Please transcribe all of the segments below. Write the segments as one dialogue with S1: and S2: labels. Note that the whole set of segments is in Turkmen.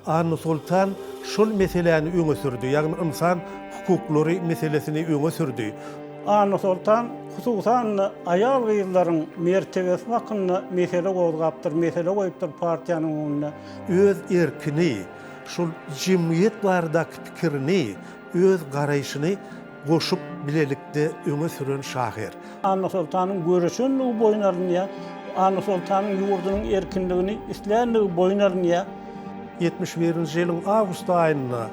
S1: Anna Soltan şol meseläni öňe sürdi, ýagny ynsan hukuklary meselesini öňe sürdi. Anna Soltan,
S2: hususan-da, aýal-gyzlaryň mertebesi hakynda mesele gozgapdyr, mesele goýupdyr partiýanyň öňünde. Öz
S1: erkini, şol jemgyýet baradaky pikirini, öz garaýşyny Goşup bilelikde öňe süren şahyr. Annasoltanyň
S2: göreşenligi boýun alynýar. Annasoltanyň ýurdunyň erkinligini islänligi boýun alynýar. Ýetmiş
S1: birinji ýylyň awgust aýynda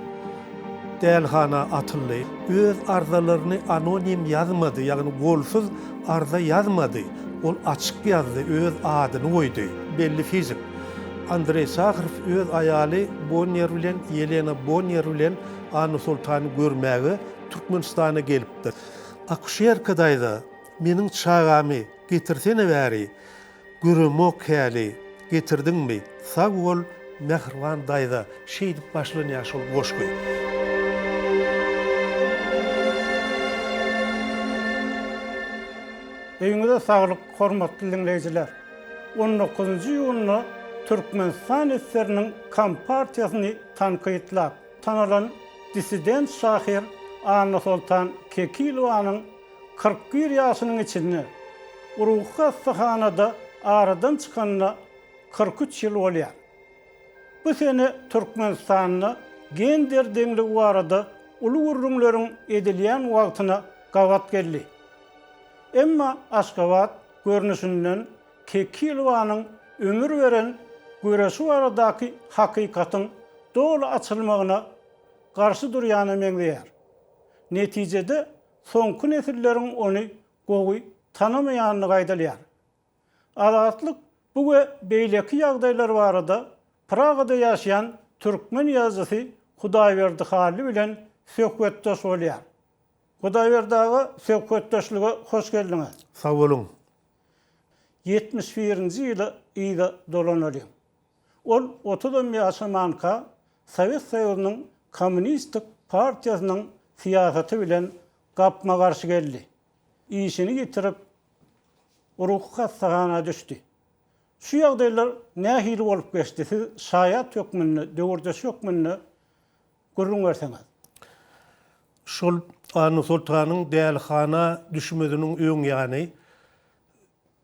S1: dälihana atyldy. Öz arzalaryny anonim ýazmady, ýagny golsuz arza ýazmady. Ol açyk ýazdy, öz adyny goýdy. Belli fizik Andreý Saharow öz aýaly Bonniýer bilen Ýelena Bonniýer bilen A. Nursultany görmäge Türkmenistana gelipdir. Akuşerka daýza, meniň çagamy getirsene bäri, göremok häli, getirdiňmi? Sag bol, mähriban daýza, şeýdip başlanýar şol goşgy.
S2: Öýüňize saglyk, hormatly diňleýjiler! On dokuzynjy iýunda Türkmenistan SSR-niň Kompartiýasyny tankytlap, Tanalan dissident şahyr Annasoltan Kekilowanyň kyrk bir ýaşynyň içinde ruhy hassahanada aradan çykanyna kyrk üç ýyl bolýar. Bu sene Türkmenistanda gender deňligi barada uly gürrüňleriň edilýän wagtyna gabat geldi. Emma Aşgabat görnüşinden Kekilowanyň ömür beren göreşi baradaky hakykatyň doly açylmagyna garşy durýana meňzeýär. Netijede soňky nesilleriň ony gowy tanamaýandygy aýdylýar. Azatlyk bu we beýleki ýagdaýlar barada Pragada ýaşaýan türkmen ýazyjysy Hudaýberdi Hally bilen söhbetdeş bolýar. Hudaýberdi aga, söhbetdeşlige hoş geldiňiz! Sag boluň!
S1: Ýetmiş
S2: birinji ýyla yza dolanalyň. Ol otuzam ýaşamanka Sowet Soýuzynyň Kommunistik partiýasynyň syýasaty bilen gapma-garşy geldi. Işini ýitirip, ruhy hassahana düşdi. Şu ýagdaýlar nähili bolup geçdi, siz şaýat hökmünde, döwürdeş hökmünde Gürrüň berseňiz.
S1: Şol Annasoltanyň dälihana düşmeziniň öň ýany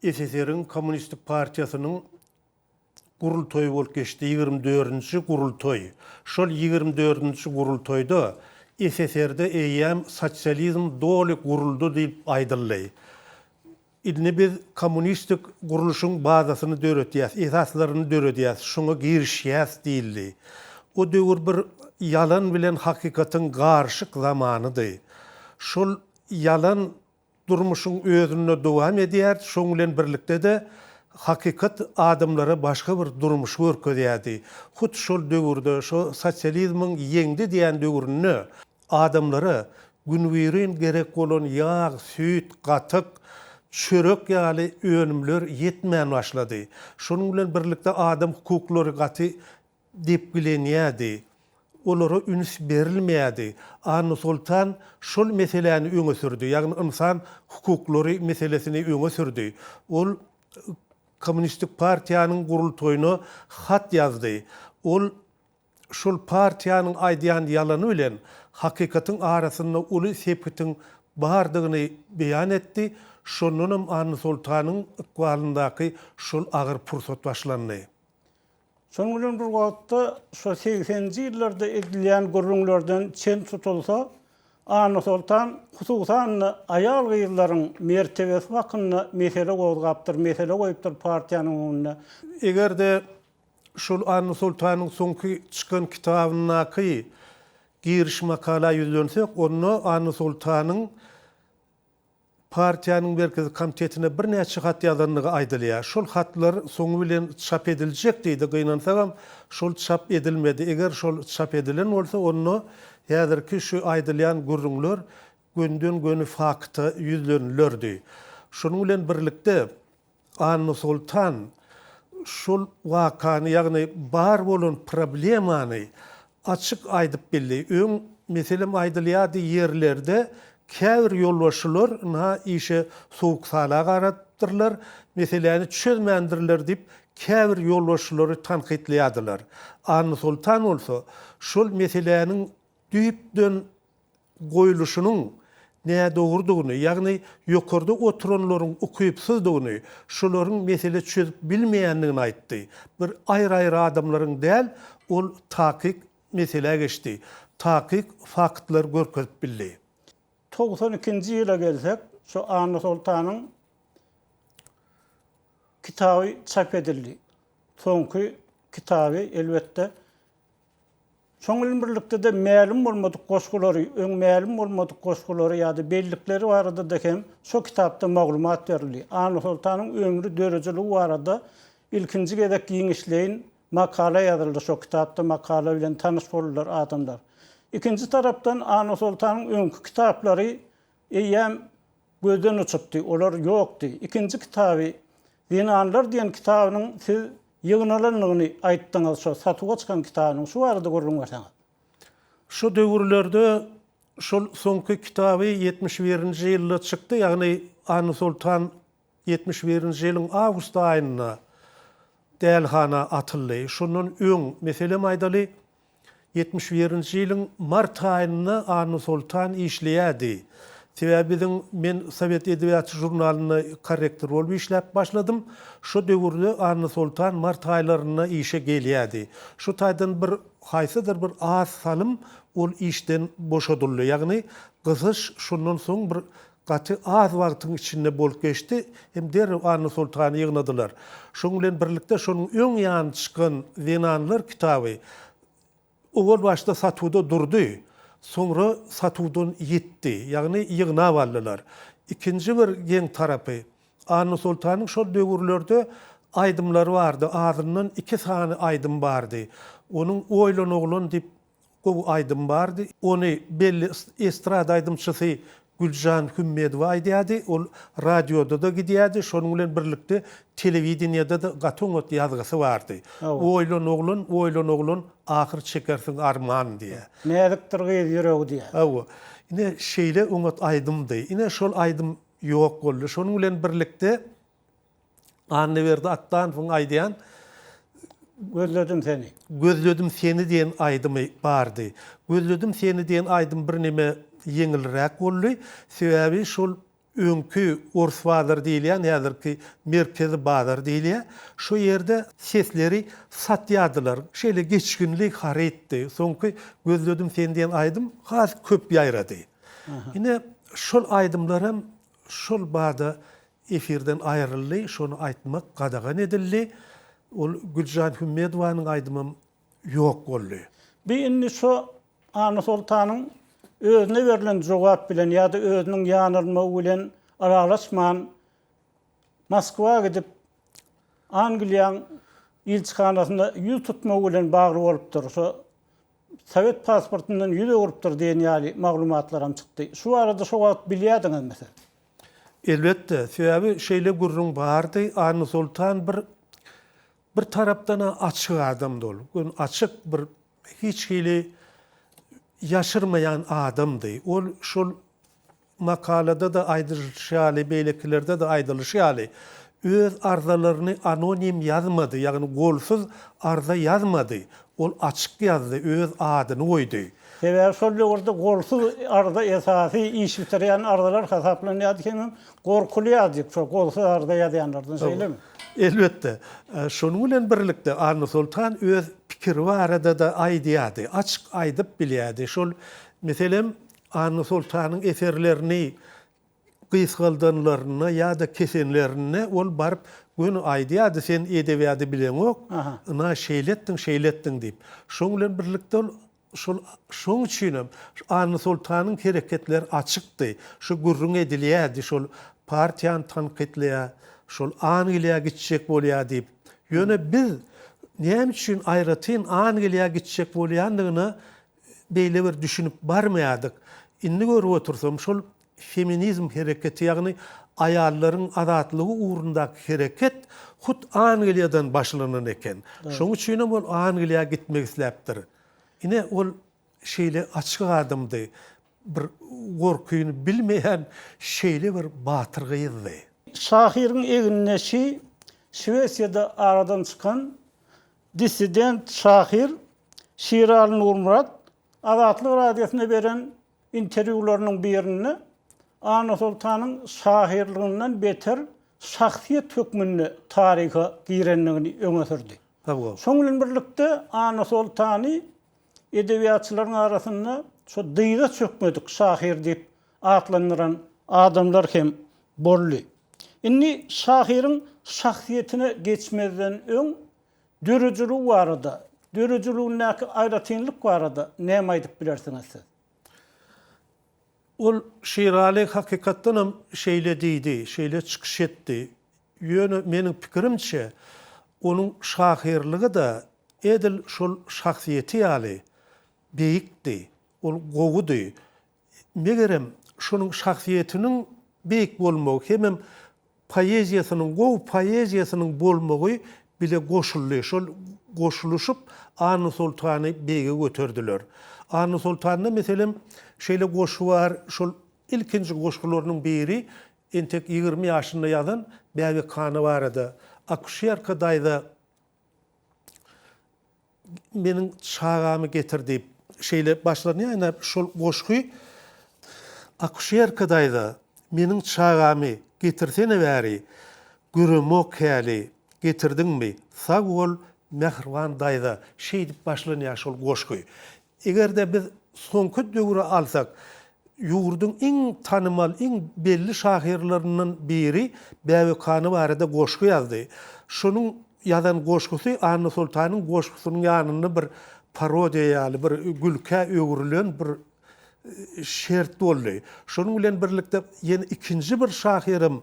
S1: SSR-iň Kommunistik partiýasynyň gurultaýy bolup geçdi, ýigrimi dördünji gurultaý. Şol ýigrimi dördünji gurultaýda SSR-de eýýäm sosializm doly guruldy diýip aýdyldy. Indi biz kommunistik gurluşyň bazasyny döredýäs, esaslaryny döredýäs, şuňa girişýäs diýildi. O döwür bir ýalan bilen hakykatyň garyşyk zamanydy. Şol ýalan durmuşyň özünde dowam edýärdi, şoň bilen birlikde-de hakykat adamlara başga bir durmuşy görkezýärdi. Hut şol döwürde, şo sosializmiň ýeňdi diýen döwründe Adamlara günübirin gerek bolan ýag, süýt, gatyk, çörek ýaly önümler ýetmän başlady. Şonuň bilen birlikde adam hukuklary gaty depgilenýärdi. Olara üns berilmeýärdi. Annasoltan şol meseläni öňe sürdi. Ýagny ynsan hukuklary meselesini öňe sürdi. Ol Kommunistik partiýanyň gurultaýyna hat ýazdy. Ol Şol partiýanyň aýdýan ýalany bilen hakykatyň arasynda uly sepgitiň bardygyny beýan etdi, şondanam Annasoltanyň ykbalyndaky şol agyr pursat başlandy. Şonuň
S2: bilen bir wagtda, şo segseninji ýyllarda edilýän gürrüňlerden çen tutulsa, Annasoltan hususan-da aýal-gyzlaryň mertebesi hakynda mesele gozgapdyr, mesele goýupdyr partiýanyň öňünde. Eger-de
S1: şol Anna Soltanyň soňky çykan kitabyndaky giriş makala ýüzlensek, onda Anna Soltanyň partiýanyň Merkezi komitetine birnäçe hat ýazandygy aýdylýar. Şol hatlar soňy bilen çap ediljek diýdi, gynansagam, şol çap edilmedi. Eger şol çap edilen bolsa, onda häzirki şu aýdylýan gürrüňler gönden-göni fakta ýüzlenilerdi. Şunuň bilen birlikde, Annasoltan şol wakany, ýagny bar bolan problemany açyk aýdyp bildi. Öň, meselem, aýdylýardy, ýerlerde käbir ýolbaşçylar ynha işe sowuk-sala garapdyrlar, meseläni çözmändirler diýip, käbir ýolbaşçylary tankytlaýardylar. Annasoltan bolsa şol meseläniň düýpden goýluşynyň nädogrudygyny, ýagny ýokarda oturanlaryň ukypsyzdygyny, şolaryň mesele çözüp bilmeýändigini aýtdy. Bir aýry-aýry adamlaryň däl, ol takyk meselä geçdi, takyk faktlar görkezip bildi. Togsan
S2: ikinji ýyla gelsek, şu Anna Soltanyň kitaby çap edildi. Soňky kitaby, elbetde, Şonuň bilen birlikde-de mälim bolmadyk goşgulary, öň mälim bolmadyk goşgulary ýa-da bellikleri barada-da hem şo kitapda maglumat berildi. Annasoltanyň ömri, döredijiligi barada ilkinji gezek giňişleýin makala ýazyldy şo kitapda, makala bilen tanyş boldular adamlar. Ikinji tarapdan Annasoltanyň öňki kitaplary eýýäm Gözden uçupdy, olar ýokdy. Ikinji kitaby, Zenanlar diýen kitabynyň siz ýygnalandygyny aýtdyňyz, şo satuwa çykan kitabynyň. Şu barada gürrüň berseňiz. Şu
S1: döwürlerde şol soňky kitaby ýetmiş birinji ýylda çykdy, ýagny Anysoltan ýetmiş birinji ýylyň awgust aýynda dälhana atyldy. Şondan öň, meselem aýdaly, Ýetmiş birinji ýylyň mart aýynda Anna Soltan işleýärdi. Sebäbi biziň men Sowet edebiýaty žurnalynda korrektor bolup işläp başladym. Şo döwürde Anna Soltan mart aýlarynda işe gelýärdi. Şu taýdan bir haýsydyr bir az salym ol işden boşadyldy. Ýagny gysyş şondan soň bir Gaty az wagtyň içinde bolup geçdi hem derrew Annasoltany ýygnadylar. Şonuň bilen birlikde şonuň öň ýany çykan Zenanlar kitaby owal başda satuwda durdy, soňra satuwdan ýitdi, ýagny ýygnap aldylar. Ikinji bir geň tarapy, Annasoltanyň şol döwürlerde aýdymlary bardy, azyndan iki sany aýdym bardy. Onuň Oýlan oglan diýip Gowy aýdym bardy. Ony belli estrada aýdymçysy Güljan Hümmedowa aýdýardy. Ol radioda-da gidýärdi, şonuň bilen birlikde telewideniýede-de gaty oňat ýazgysy bardy. Oýlan oglan, oýlan oglan, ahyr çekersiň arman diýýär. Näzikdir gyz
S2: ýüregi diýýär. Hawa. Ine,
S1: şeýle oňat aýdymdy. Ine, şol aýdym ýok boldy. Şonuň bilen birlikde Annaberdi Atdanowyň aýdýan
S2: Gözledim seni. Gözledim seni
S1: diýen aýdymy bardy. Gözledim seni diýen aýdym birneme ýeňilräk boldy. Sebäbi şol öňki Ors bazary diýilýän, häzirki Merkezi bazar diýilýär. Şo ýerde sesleri satýardylar. Şeýle geçginli harytdy. Soňky Gözledim seni diýen aýdym has köp ýaýrady. Ine, şol aýdymlar hem şol bada efirden aýryldy, şony aýtmak gadagan edildi. Ol Güljan Hümmedowanyň aýdymam ýok boldy. Bi indi şo
S2: Annasoltanyň özüne berlen jogap bilen ýa-da özüniň ýanylmagy bilen ylalaşman Moskwa gidip Angliýaň ilçihanasyna ýüz tutmagy bilen bagly bolupdyr. Şo Sowet pasportyndan ýüz öwrüpdir diýen ýaly maglumatlaram çykdy. Şu barada şo wagt bilýärdiňizmi siz? Elbetde,
S1: sebäbi şeýle gürrüň bardy. Annasoltan bir bir tarapdan-a açyk adamdy ol. Gün açyk bir hiç hili ýaşyrmaýan adamdy. Ol şol Makalada-da aýdylyşy ýaly, beýlekilerde-de aýdylyşy ýaly, öz arzalaryny anonim ýazmady, ýagny golsuz arza ýazmady, ol açyk ýazdy, öz adyny goýdy. Sebäbi şol
S2: döwürde golsuz arza esasy iş bitirýän arzalar hasaplanýardy, hemem gorkulýardy şol golsuz arza ýazýanlardan, şeýlemi? Elbetde.
S1: Şonuň bilen birlikde Annasoltan öz pikiri barada-da aýdýardy, açyk aýdyp bilýärdi. Şol, meselem. Anna Soltanyň eserlerini gysgaldanlarynda ýa-da kesenlerinde ol baryp göni aýdýardy, Sen edebiýady bileňok, ynha şeýle etdiň, şeýle etdiň diýip. Şoň bilen birlikde ol şol şoň üçin hem Anna Soltanyň hereketleri açykdy. Şu gürrüň edilýärdi, şol partiýany tankytlaýar, şol Angliýa gitjek bolýar diýip. Ýöne biz näme üçin aýratyn Angliýa gitjek bolýandygyna beýle bir düşünip barmaýardyk. Indi görüp otursam şol feminizm hereketi ýagny aýallaryň azatlygy ugrundaky hereket hut Angliýadan başlanan eken. Şoň üçinem ol Angliýa gitmek isläpdir. Ine ol şeýle açyk adamdy. Bir gorkyny bilmeýän şeýle bir
S2: batyr
S1: gyzdy. Şahyryň
S2: egindeşi Şwesiýada aradan çykan Dissident şahyr Şiraly Nurmyrat Azatlyk Radiosyna beren interwýularynyň birinde Annasoltanyň şahyrlygyndan beter şahsyýet hökmünde taryha girendigini öňe sürdi. Şonuň bilen
S1: birlikde
S2: Annasoltany edebiýatçylaryň arasynda şo dyza çökmedik şahyr diýip atlandyran adamlar hem boldy. Indi şahyryň şahsyýetine geçmezden öň döredijiligi barada, döredijiligindäki aýratynlyk barada näme aýdyp bilersiňiz siz?
S1: Ol Şiraly hakykatdan hem şeýle diýdi, şeýle çykyş etdi. Ýöne meniň pikirimçe, onuň şahyrlygy-da edil şol şahsyýeti ýaly beýikdi, ol gowudy. Megerem, şonuň şahsyýetiniň beýik bolmagy hemem poeziýasynyň, gowy poeziýasynyň bolmagy bile goşuldy. Şol goşulyşyp Annasoltany beýige göterdiler. Annasoltanda, meselem, şeýle goşgy bar, şol ilkinji goşgularynyň biri entek ýigrimi ýaşynda ýazan Bäbekhana barada. Akuşerka daýza. Meniň çagamy getir diýip, şeýle başlaryny ýaýnap, şol goşgy Akuşerka daýza, meniň çagamy getirsene bäri, göremok häli, getirdiňmi? Sag bol, mähriban daýza, şeýdip başlanýar şol goşgy. Eger-de biz soňky döwri alsak, ýurduň iň tanymal, iň belli şahyrlaryndan biri Bäbek hany barada goşgy ýazdy. Şonuň ýazan goşgusy Annasoltanyň goşgusynyň ýanynda bir parodiýa ýaly, bir gülkä öwrülen bir şert boldy. Şonuň bilen birlikde ýene ikinji bir şahyrym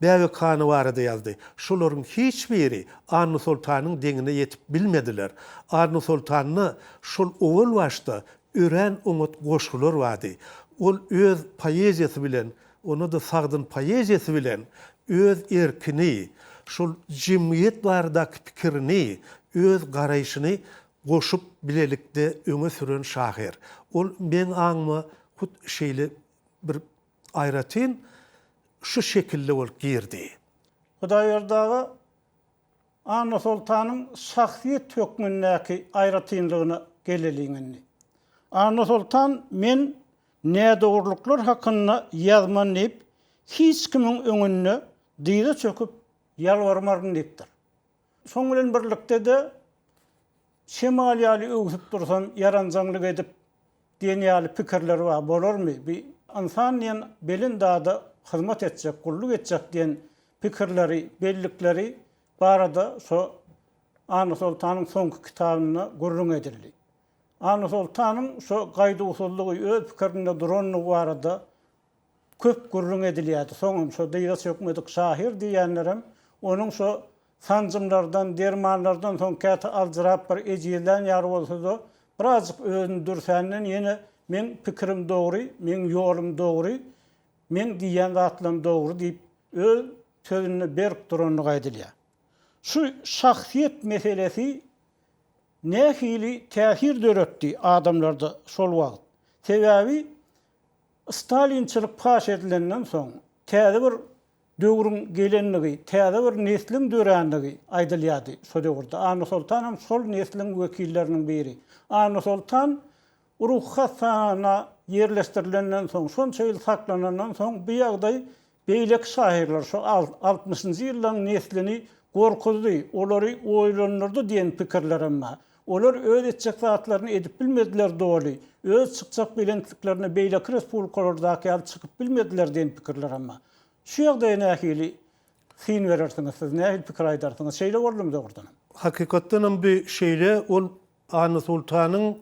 S1: Bäbek hany barada ýazdy. Şolaryň hiç biri Annasoltanyň deňine ýetip bilmediler. Annasoltanda şol owal başda örän oňat goşgular bardy. Ol öz poeziýasy bilen, onda-da sagdyn poeziýasy bilen öz erkini, şol jemgyýet baradaky pikirini, öz garaýşyny goşup bilelikde öňe süren şahyr. Ol meň aňyma hut şeýle bir Aýratyn şu şekilde bolup girdi. Hudaýberdi
S2: aga Annasoltanyň şahsyýet hökmündäki aýratynlygyna geleliň indi. Annasoltan men nädogrulyklar hakynda ýazman diýip hiç kimiň öňünde dyza çöküp ýalbarmaryn diýipdir. Şoň bilen birlikde-de, şemal ýaly öwsüp dursan, ýaranjaňlyk edip diýen ýaly pikirler bar. Bolarmy? Bi ynsan diýen belent zada hyzmat etjek, gulluk etjek diýen pikirleri, bellikleri barada şo Annasoltanyň soňky kitabynda gürrüň edildi. Annasoltanyň şo gaýduwsyzlygy, öz pikirinde duranlygy barada Köp gürrüň edilýärdi. Soňam şo dyza çökmedik şahyr diýýänlerem onuň şo sanjymlardan, dermanlardan soň käte aljyrap bir ejizlän ýaly bolsa-da, birazjyk özüni dürsänden ýene Meň pikirim dogry, meň ýolum dogry, meň diýýän zatlarym dogry diýip, öz sözünde berk durandygy aýdylýar. Şu şahsyýet meselesi nähili täsir döretdi adamlarda şol wagt? Sebäbi Stalinçilik paş edilenden soň, täze bir döwrüň gelenligi, täze bir nesliň dörändigi aýdylýardy şo döwürde. Annasoltan hem şol nesliň wekilleriniň biri. Annasoltan ruhy hassahana ýerleşdirilenden soň, şonça ýyl saklanandan soň bu ýagdaý Beýleki şahyrlar şu altmyşynjy ýyllaryň neslini gorkuzdy, olary oýlandyrdy diýen pikirler hem bar. Olar öz etjek zatlaryny edip bilmediler doly, öz çykjak belentliklerine beýleki respublikalardaky ýaly çykyp bilmediler diýen pikirler hem bar. Şu ýagdaýa nähili syn berersiňiz siz, nähili pikir aýdarsyňyz? Şeýle boldumy dogrudanam? Hakykatdanam bu
S1: şeýle, ol Anna Sultanyň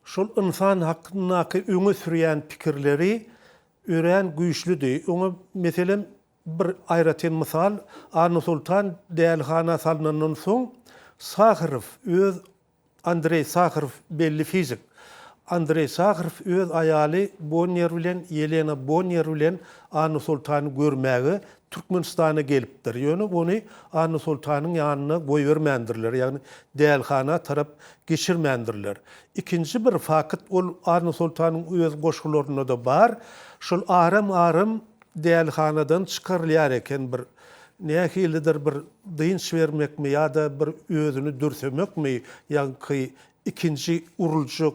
S1: şol ynsan hakyndaky öňe sürýän pikirleri örän güýçlüdi. Oňa, meselem, bir aýratyn mysal, Anna Sultan dälihana salnandan soň, Saharow öz, Andreý Saharow, belli fizik, Andreý Saharow öz aýaly Bonniýer bilen, Ýelena Bonniýer bilen Anna Sultany görmäge Türkmenistana gelipdir. Ýöne ony Anna Soltanyň ýanyna goýbermändirler, ýagny dälhana tarap geçirmändirler. Ikinji bir fakyt, ol Anna Soltanyň öz goşgularynda-da bar, şol aram-aram dälhanadan çykarylýar eken bir nähilidir bir dynç bermekmi ýa-da bir özüni dürsemekmi, ýaňky ikinji uruljak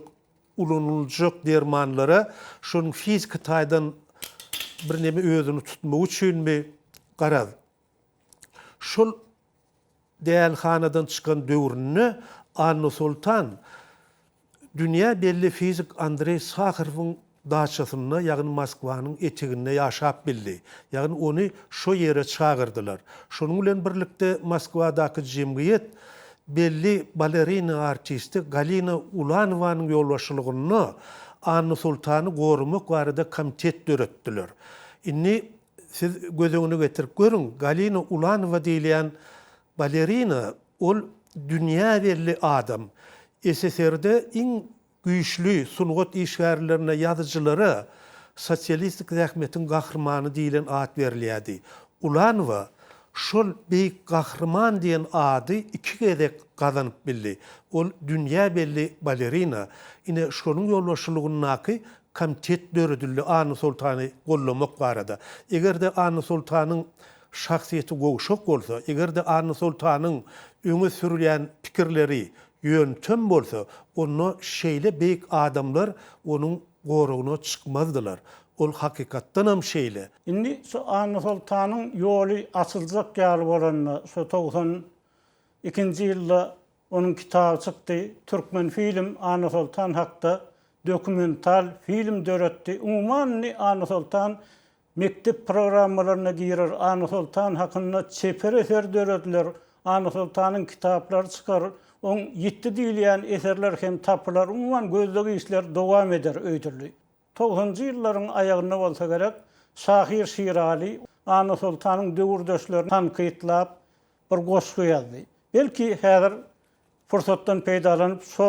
S1: ulanyljak dermanlara şonuň fiziki taýdan birneme özüni tutmagy üçinmi, garaz, şol dälhanadan çykan döwründe Annasoltan dünýä belli fizik Andreý Saharowyň daçasynda, ýagny Moskwanyň eteginde ýaşap bildi. Ýagny ony şo ýere çagyrdylar. Şonuň bilen birlikde Moskwadaky jemgyýet Belli balerina artisti Galina Ulanowanyň ýolbaşçylygynda Anna Sultany goramak barada komitet döretdiler. Indi siz göz öňüne getirip görüň, Galina Ulanowa diýilýän balerina, ol dünýä belli adam. SSR-de iň Güýçli sungat işgärlerine, ýazyjylara Sosialistik zähmetiň gahrymany diýlen at berilýärdi. Ulanowa şol beýik gahryman diýen ady iki gezek gazanyp bildi. Ol dünýä belli balerina. Ine, şonuň ýolbaşçylygyndaky komitet döredildi Annasoltany gollamak barada. Eger-de Annasoltanyň şahsyýeti gowşak bolsa, eger-de Annasoltanyň öňe sürýän pikirleri Ýöntem bolsa, onda şeýle beýik adamlar onuň goragyna çykmazdylar. Ol hakykatdanam şeýle. Indi şu
S2: Annasoltanyň ýoly açyljak ýaly bolanda, şu togsan ikinji ýylda onuň kitaby çykdy. Türkmenfilm Annasoltan hakda dokumental film döretdi. Umuman, indi Annasoltan Mekdep programmalaryna girer, Annasoltan hakynda çeper eser dörediler, Annasoltanyň kitaplary çykar, oň ýitdi diýilýän eserler hem tapylar, umuman gözleg işler dowam eder öýdüldi. Togsanjy ýyllaryň aýagynda bolsa gerek, şahyr Şiraly Annasoltanyň döwürdeşlerini tankytlap bir goşgy ýazdy. Belki, häzir pursatdan peýdalanyp, şo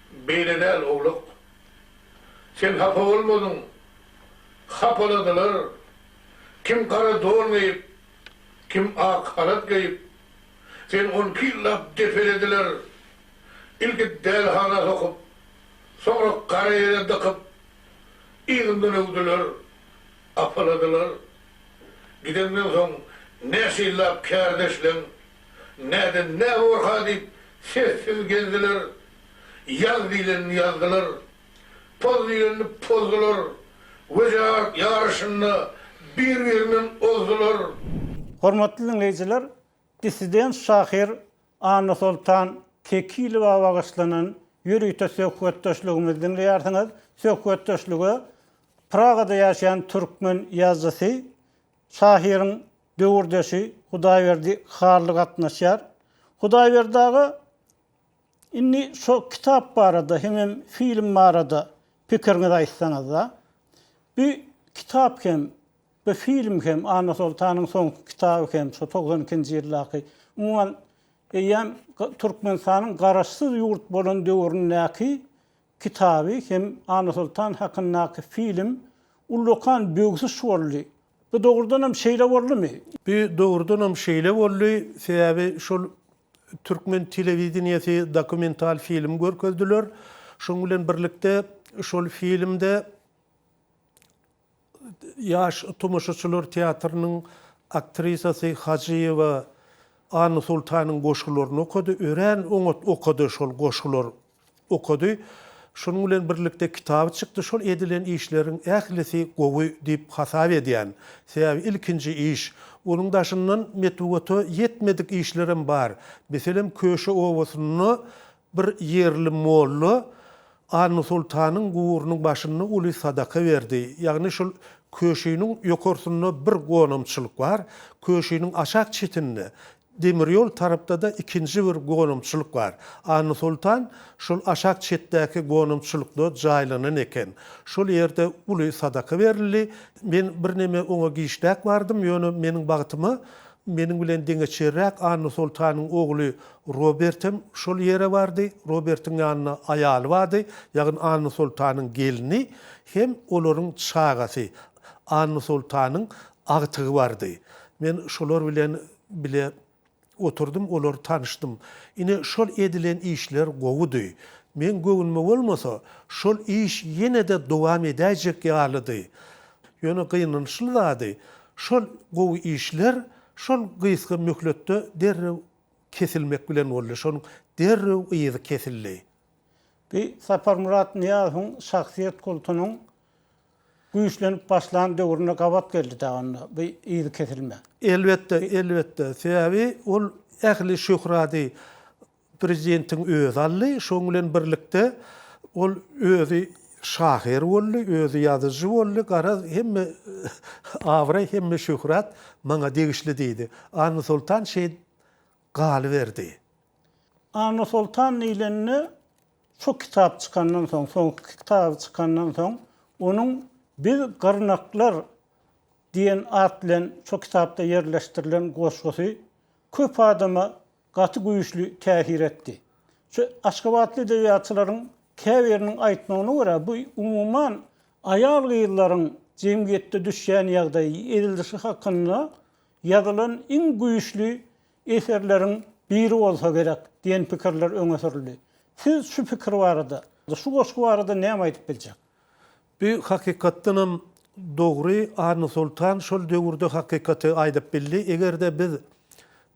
S3: Beýle däl owlak. Sen hapa bolmadyň. Hapaladylar. Kim gara don geýip, kim ak halat geýip. Seni on iki ýyllap depelediler. Ilki dälihana sokup, soňra gara ýere dykyp, yzyndan öwdüler, apaladylar. Gideňden soň näçe ýyllap kärdeşleň, Näden nä bor-ha diýip, sessiz gezdiler. Ýaz diýlenini ýazdylar. Poz diýlenini pozdular. Wejerat ýaryşynda bir-birinden ozdular. Hormatly
S2: diňleýjiler, dissident şahyr Annasoltan Kekilowa bagyşlanan ýörite söhbetdeşligimizi diňleýärsiňiz. Söhbetdeşlige Pragada ýaşaýan türkmen ýazyjysy, şahyryň Döwürdeşi Hudaýberdi Hally gatnaşýar. Hudaýberdi aga indi şo kitap barada hemem film barada pikiriňizi aýtsaňyzda. Bu kitap hem, bu film hem, Annasoltanyň soňky kitaby hem, şo togsan ikinji ýyldaky, umuman eýýäm Türkmenistanyň garaşsyz ýurt bolan döwründäki kitaby hem Annasoltan hakyndaky film ullakan böwsüş boldy. Bu dogrudanam şeýle boldumy? Bu dogrudanam
S1: şeýle boldy, sebäbi şol türkmen telewideniýesi dokumental film görkezdiler. Şonuň bilen birlikde şol filmde ýaş tomaşaçylar teatrynyň aktrisasy Hajyýewa Annasoltanyň goşgularyny okady. Örän oňat okady şol goşgular. Okady. Şonuň bilen birlikde kitaby çykdy. Şol edilen işleriň ählisi gowy diýip hasap edýän. Sebäbi ilkinji iş. Onuň daşyndan metbugata ýetmedik işlerem bar. Meselem, Köşe obasynda bir ýerli molla Annasoltanyň guburynyň başynda uly sadaka berdi. Ýagny şol köşiniň ýokarsynda bir gonamçylyk bar. Köşiniň aşak çetinde Demir ýol tarapda-da ikinji bir gonamçylyk bar. Annasoltan şol aşak çetdäki gonamçylykda jaýlanan eken. Şol ýerde uly sadaka berildi. Men birneme oňa giçräk bardym, ýöne meniň bagtyma meniň bilen deňeçerräk Annasoltanyň ogly Robert hem şol ýere bardy. Robertiň ýanynda aýaly bardy, ýagny Annasoltanyň gelni hem olaryň çagasy. Annasoltanyň agtygy bardy. Men şolar bilen bile oturdym, olar tanyşdym. Ine, şol edilen işler gowudy. Meň göwnüme bolmasa, şol iş ýene-de dowam edäýjek ýalydy. Ýöne gynançly zady, şol gowy işler şol gysga möhletde derrew kesilmek bilen boldy, şonuň derrew yzy kesildi. Bu
S2: Saparmyrat Nyýazowyň şahsyýet kultunyň Güýçlenip başlan döwrüne gabat geldi dagy onda bu yzy kesilme. Elbetde, elbetde.
S1: Sebäbi ol ähli şöhrady prezidentiň özi aldy. Şoň bilen birlikde ol özi şahyr boldy, özi ýazyjy boldy. Garaz, hemme abraý, hemme şöhrat maňa degişli diýdi. Annasoltan şeýdip galyberdi.
S2: Annasoltan diýlende Şu kitap çykandan soň, soňky kitaby çykandan soň, onuň Biz gyrnaklar diýen at bilen şu kitapda ýerleşdirilen goşgusy köp adama gaty güýçli täsir etdi. Şu aşgabatly edebiýatçylaryň käbiriniň aýtmagyna görä, bu umuman aýal-gyzlaryň jemgyýetde düşýän ýagdaýy, ezilişi hakynda ýazylan iň güýçli eserleriň biri bolsa gerek diýen pikirler öňe sürüldi. Siz şu pikir barada, şu goşgy barada näme aýdyp biljek? Bu
S1: hakykatdanam dogry, Annasoltan şol döwürde hakykaty aýdyp bildi. Eger-de biz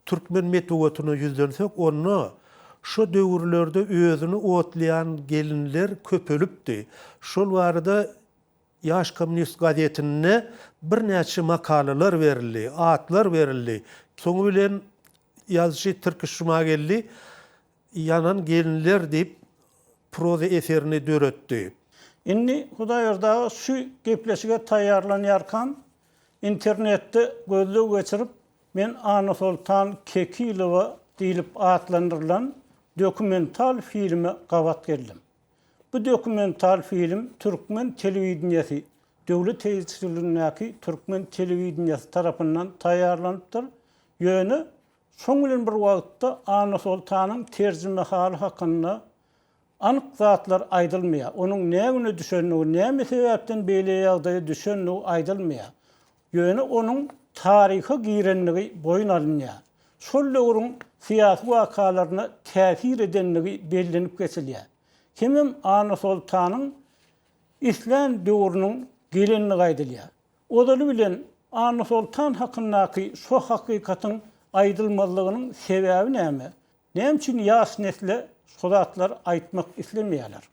S1: türkmen metbugatyna ýüzlensek, onda şo döwürlerde özüni otlaýan gelinler köpelipdi. Şol barada Ýaş kommunist gazetinde birnäçe makalalar berildi, atlar berildi. Soňy bilen ýazyjy Tirkiş Jumageldi Ýanan gelinler diýip proza eserini döretdi. Indi
S2: Hudaýberdi aga şu gepleşige taýýarlanýarkam internetde gözleg geçirip men Annasoltan Kekilowa diýlip atlandyrylan dokumental filme gabat geldim. Bu dokumental film türkmen telewideniýesi döwlet tebiçiligindäki türkmen telewideniýesi tarapyndan taýýarlanypdyr, ýöne şoň bilen bir wagtda Annasoltanyň terjimehaly hakynda anyk zatlar aýdylmaýar, onuň ne güne düşendigi, näme sebäpden beýle ýagdaýa düşendigi aýdylmaýar. Ýöne onuň taryha girendigi boýun alynýar. Şol döwrüň syýasy wakalaryna täsir edendigi bellenip geçilýär. Kimem Annasoltanyň islän döwrüniň gelendigi aýdylýar. Ozaly bilen Annasoltan hakyndaky şo hakykatyň aýdylmazlygynyň sebäbi näme? Näme üçin ýaş nesle şo zatlar aýtmak islemeýärler?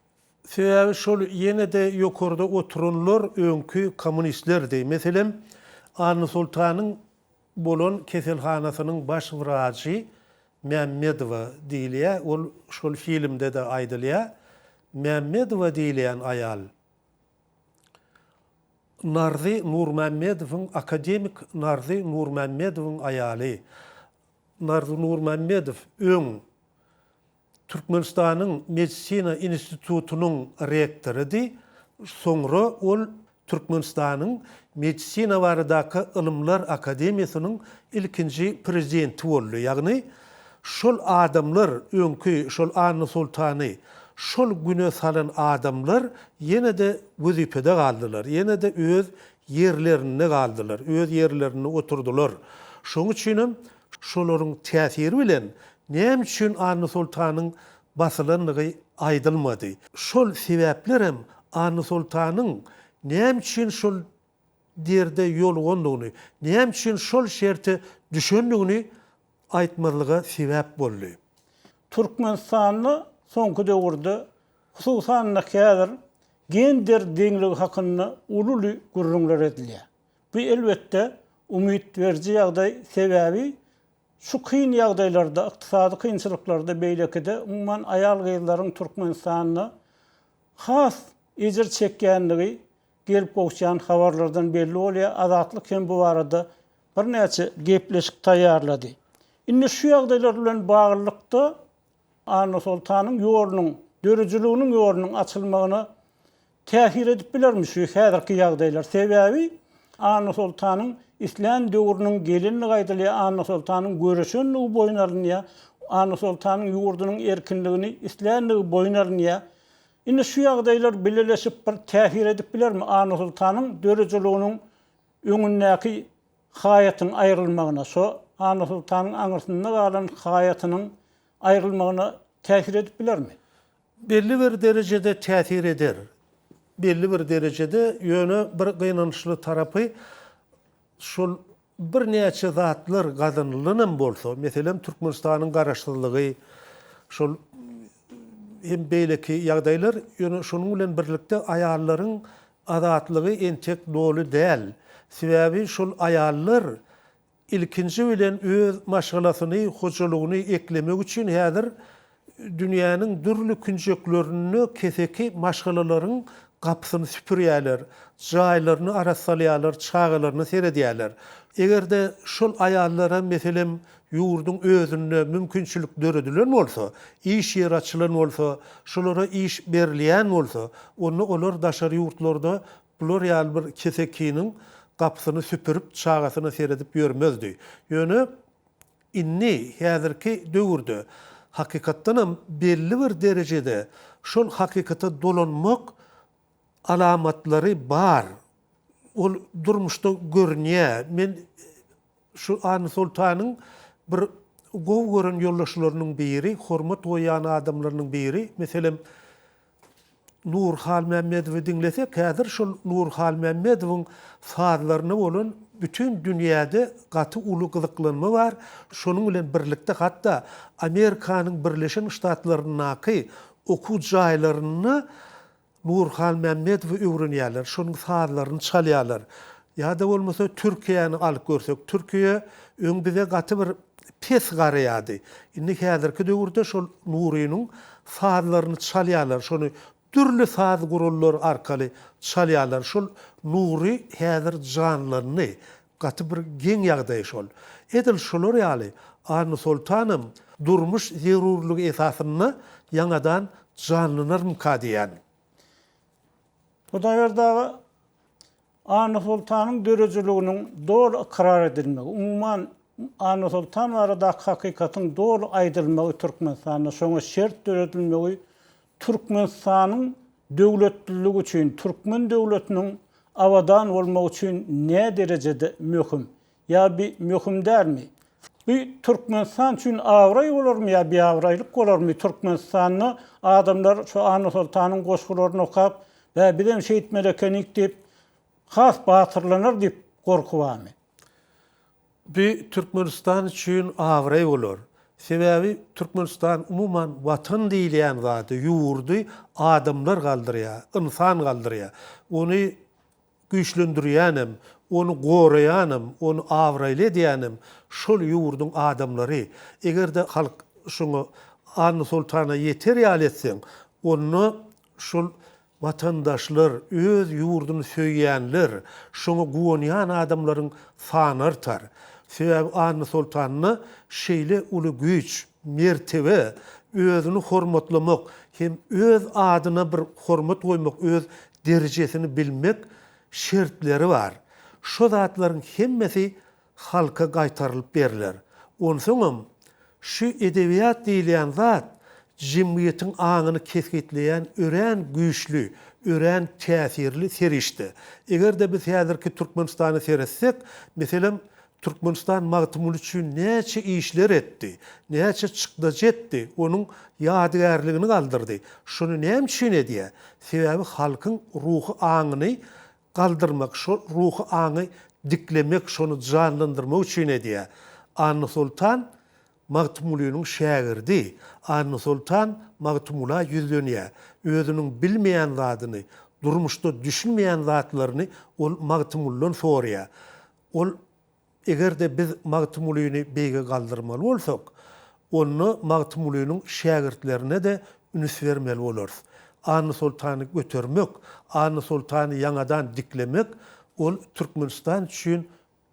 S2: Sebäbi
S1: şol ýene-de ýokarda oturanlar öňki kommunistlerdi. Meselem, Annasoltanyň bolan keselhanasynyň baş wrajy Mämmedowa diýilýär, ol şol filmde-de aýdylýar. Mämmedowa diýilýän aýal Narzy Nurmämmedowyň, akademik Narzy Nurmämmedowyň aýaly. Narzy Nurmämmedow öň. Türkmenistanyň Medisina institutynyň rektorydy, soňra ol Türkmenistanyň Medisina baradaky ylymlar akademiýasynyň ilkinji prezidenti boldy, ýagny şol adamlar, öňki şol Anna Soltany şol güne salan adamlar ýene-de wezipede galdylar, ýene-de öz ýerlerinde galdylar, öz ýerlerinde oturdylar. Şoň üçinem şolaryň täsiri bilen Näme üçin Anna Soltanyň basylandygy aýdylmady. Şol sebäpler hem Anna Soltanyň näme üçin şol derde ýolugandygyny, näme üçin şol şerte düşendigini aýtmazlyga sebäp boldy. Türkmenistanda
S2: soňky döwürde, hususan-da häzir gender deňligi hakynda ululy gürrüňler edilýär. Bu elbetde umyt beriji ýagdaý, sebäbi Şu kyn ýagdaýlarda, ykdysady kynçylyklarda beýlekide umuman aýal-gyzlaryň Türkmenistanda has ejir çekýändigi gelip gowuşýan habarlardan belli bolýar, Azatlyk hem bu barada birnäçe gepleşik taýýarlady. Indi şu ýagdaýlar bilen baglylykda, Annasoltanyň ýolunyň, döredijiliginiň ýolunyň açylmagyna täsir edip bilermi şu häzirki ýagdaýlar? Sebäbi Annasoltanyň islän döwrüniň gelinligi aýdylýar, Annasoltanyň göreşenligi boýun alynýar, Annasoltanyň ýurdunyň erkinligini islänligi boýun alynýar. Indi şu ýagdaýlar bileleşip bir täsir edip bilermi Annasoltanyň döredijiliginiň Öňündäki haýatyň aýrylmagyna, şo Annasoltanyň aňyrsynda galan haýatynyň aýrylmagyna täsir edip bilermi? Belli bir
S1: derejede täsir eder. Belli bir derejede, ýöne bir gynançly tarapy, şol birnäçe zatlar gazanylanam bolsa, meselem, Türkmenistanyň garaşsyzlygy, şol hem beýleki ýagdaýlar, ýöne şonuň bilen birlikde aýallaryň Azatlygy entek doly däl. Sebäbi şol aýallar ilkinji bilen öz maşgalasyny, hojalygyny eklemek üçin häzir dünýäniň dürli künjeklerinde keseki maşgalalaryň gapysyny süpürýärler, jaýlaryny arassalýarlar, çagalaryna seredýärler. Eger-de şol aýallara meselem Ýurduň özünde mümkinçilik döredilen bolsa, iş ýeri açylan bolsa, şulara iş berilýän bolsa, onda olar daşary ýurtlarda bular ýaly bir kesekiniň gapysyny süpürip, çagasyna seredip ýörmezdi. Ýöne indi, häzirki döwürde hakykatdanam belli bir derejede şol hakykata dolanmak Alamatlary bar. Ol durmuşda görünýär. Men şu Annasoltanyň bir gowy gören ýoldaşlarynyň biri, hormat goýýan adamlarynyň biri. Meselem, Nur Halmämmedowy diňlesek, häzir şol Nur Halmämmedowyň sazlaryna bolan bütin dünýäde gaty uly gyzyklanma bar. Şonuň bilen birlikde hatda Amerikanyň Birleşen Ştatlaryndaky Okuw jaýlarynda Nurhan Mämmedowy öwrenýärler, şonuň sazlaryny çalýarlar. Ýa-da bolmasa Türkiýäni alyp görsek, Türkiýe öň bize gaty bir pes garaýardy. Indi häzirki döwürde şol Nurynyň sazlaryny çalýarlar, şony dürli saz gurallary arkaly çalýarlar. Şol Nury häzir janlandy. Gaty bir geň ýagdaý şol. Edil şular ýaly Anusoltanam durmuş zerurlygy esasynda ýaňadan janlanarmyka diýýän.
S2: Hudaýberdi aga, Anusoltanyň döredijiliginiň doly ykrar edilmegi, umuman, Anusoltan baradaky hakykatyň doly aýdylmagy Türkmenistanda şoňa şert döredilmegi Türkmenistanyň döwletliligi üçin türkmen döwletiniň abadan bolmagy üçin näderejede möhüm? Ýa bi möhüm dälmi? Bi Türkmenistan üçin abraý bolarmy ýa biabraýlyk bolarmy? Türkmenistanda adamlar şu Annasoltanyň goşgularyny okap, Bä, bizem şeýtmeli ekenik diýip, has batyrlanar diýip gorky barmy?
S1: Bu Türkmenistan üçin abraý bolar. Sebäbi Türkmenistan umuman Watan diýilýän zady, ýurdy adamlar galdyrýar, ynsan galdyrýar. Ony güýçlendirýänem, ony goraýanem, ony abraýly edýänem şol ýurduň adamlary. Eger-de halk şoňa Annasoltana ýeter ýaly etseň, onda Şol watandaşlar, öz ýurduny söýýänler, şoňa guwanýan adamlaryň sany artar. Sebäbi Annasoltanda şeýle uly güýç, mertebe, özüni hormatlamak hem öz adyna bir hormat goýmak, öz derejesini bilmek şertleri bar. Şo zatlaryň hemmesi halka gaýtarylyp berler. Onsoňam, şu edebiýat diýilýän zat jemgyýetiň aňyny kesgitleýän örän güýçli, örän täsirli serişde. Eger-de biz häzirki Türkmenistana seretsek, meselem, Türkmenistan Magtymguly üçin näçe işler etdi, näçe çykdajy etdi, onuň ýadygärligini galdyrdy. Şuny näme üçin edýär? Sebäbi halkyň ruhy aňyny galdyrmak, şo ruhy aňy diklemek, şony janlandyrmak üçin edýär. Annasoltan Magtymgulynyň şägirdi. Annasoltan Magtymgula ýüzlenýär. Özüniň bilmeýän zadyny, durmuşda düşünmeýän zatlaryny ol Magtymguldan soraýar. Ol Eger-de biz Magtymgulyny beýge galdyrmaly bolsak, onda Magtymgulynyň şägirtlerine-de ünüs bermeli bolarys. Annasoltany götermek, Annasoltany ýaňadan diklemek, ol Türkmenistan üçin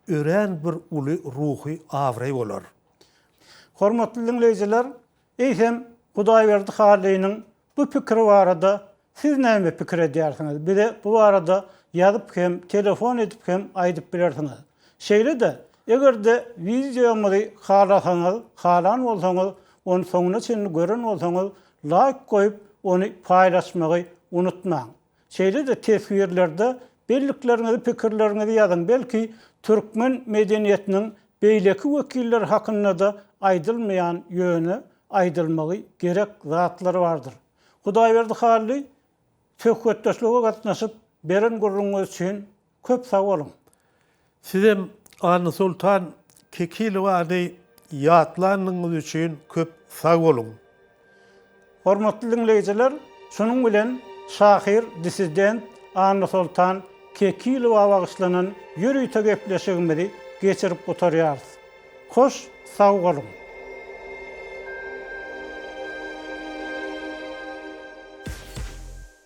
S1: örän bir uly ruhy abraý bolar. Hormatly
S2: diňleýjiler, Eýsem, Hudaýberdi Hallynyň bu pikiri barada siz näme pikir edýärsiňiz? Bize bu barada ýazyp hem, telefon edip hem aýdyp bilersiňiz. Şeýle-de, eger-de wideomyzy halasaňyz, halan bolsaňyz, ony soňuna çenli gören bolsaňyz, laýk goýup, ony paýlaşmagy unutmaň. Şeýle-de teswirlerde bellikleriňizi, pikirleriňizi ýazyň, belki türkmen medeniýetiniň beýleki wekilleri hakynda-da aýdylmaýan, ýöne aýdylmagy gerek zatlar bardyr. Hudaýberdi Hally, söhbetdeşlige gatnaşyp, beren gürrüňiňiz üçin Köp sag boluň. Sizem
S1: Anysoltan Kekilowany ýatlanyňyz üçin köp sag boluň.
S2: Hormatly diňleýjiler, şunuň bilen şahyr, dissident Anysoltan Kekilowa bagyşlanan ýörite gepleşigimizi geçirip gutarýarys. Hoş sag boluň.